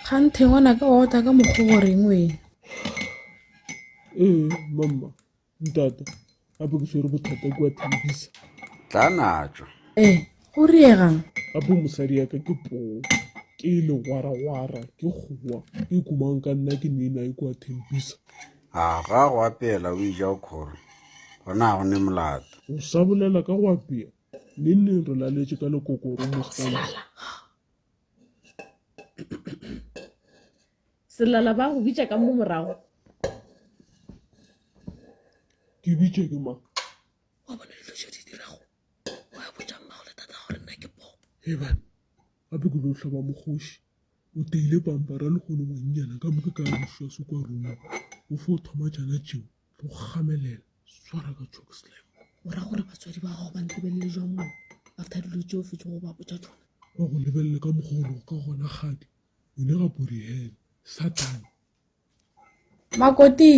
Kganthe ngwanaka o otla ka mokgo goreng wena? Ee, mama, ntate, gape ke swere bothata kwa thabisa. Tla natšwa. Ee, go riegang? Gape mosadi ya ka ke poo, ke legwaragwara, ke kgowa, ke kumang ka nna ke nena e kwa thempisa. A ga go apela o ija o khoro, gona ga go ne molato. O sa bolela ka go apea, neng neng re laletše ka lekokoro mo sala. selala ba go bitša ka mo morago ke bitše ke mang wa bona dilo tšeo di dirago wa botša mmago le tata gore nna ke po ebane gape ke lo hlaba mogoši o teile pampara le kgone ngwannyana ka moke ka mošwa se kwa ruma o fo thoma tšana tšeo le go gamelela swara ka choke slam o ra gore batswadi ba gago ba ntebelele jwa mone after dilo tse o fetse go ba botsa tsona ba go lebelele ka mogolo ka gona gadi o ne ga borihele satane makoti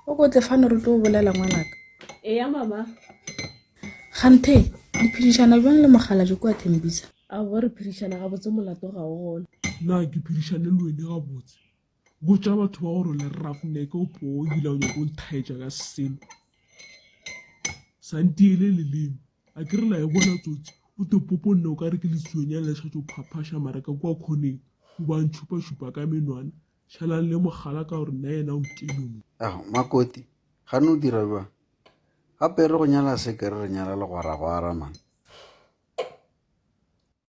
o ko tle fano re tlo bolela ngwanaka eya mama ganthe le phedišana jwang le mogala jo kwa thembisa a bo re phedišana gabotse molato ga o gona na ke phedišane le wene gabotse Botša batho ba gore o le roughneck o poo ebile ha o nyake go nthaetša ka selo sa ntiele leleme a ke re la e bona tsotsi o te popo nna o ka re ke letsuonyane le šhatse o phaphaša mara ka kua khoneng o ba ntšhupašupa ka menwana šalang le mogala ka gore nna yena o nkeme mo Ao, Makoti, gane o dira bjang? Gape e re go nyala se ke re re nyala legwaragwara man.